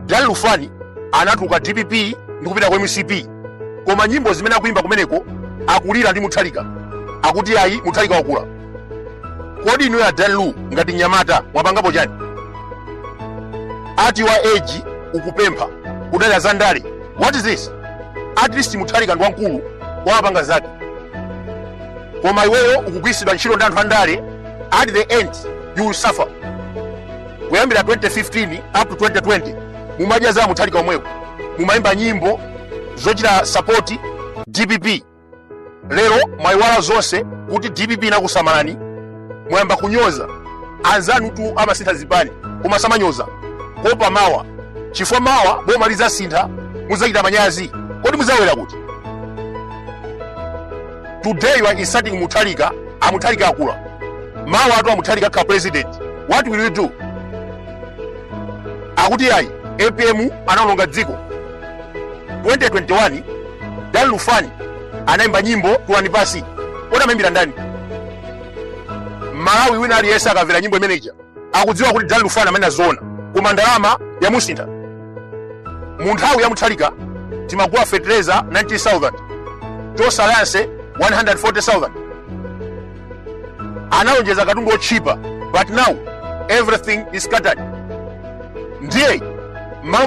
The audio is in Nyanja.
Dan Lufani anatuluka dpp ndi kupita kwa mcp koma nyimbo zimene akuimba kumeneko akulira ndi Mutharika akuti ayi Mutharika wakula kodi inuyo a Dan Lu ngati mnyamata mwapangapo chani at your age ukupempha kudalira za ndale what is this at least Mutharika ndi wamkulu wapanga zake koma iweyo ukugwiritsidwa ntchito ndi anthu andale at the end you will suffer kuyambira 2015 up to 2020 mumadya za Mutharika omwewo mumayimba nyimbo zochita sapoti dpp lero mwayiwala zonse kuti dpp inakusamalani mwayamba kunyoza anzanutu amasintha zipani koma samanyoza kuopa mawa chifukwa mawa boma lidzasintha mudzachita manyazi kodi mudzawera kuti Today you are insulting Mutharika, a Mutharika akula. Mawatu a Mutharika akakhala president. What will you do? Akuti ayi, APM anaononga dziko. 2021 Dan Lufani anaimba nyimbo Tulani Pansi. Kodi amaimbira ndani? Mmalawi wina aliyense akamvera nyimbo imeneja. akudziwa kuti Dan Lufani amanena zoona koma ndalama yamusintha mu nthawi ya Mutharika timagula fertilizer 90000 Tonse Alliance 140000 analonjeza katundu otchipa but now everything is scattered ndiye mmalo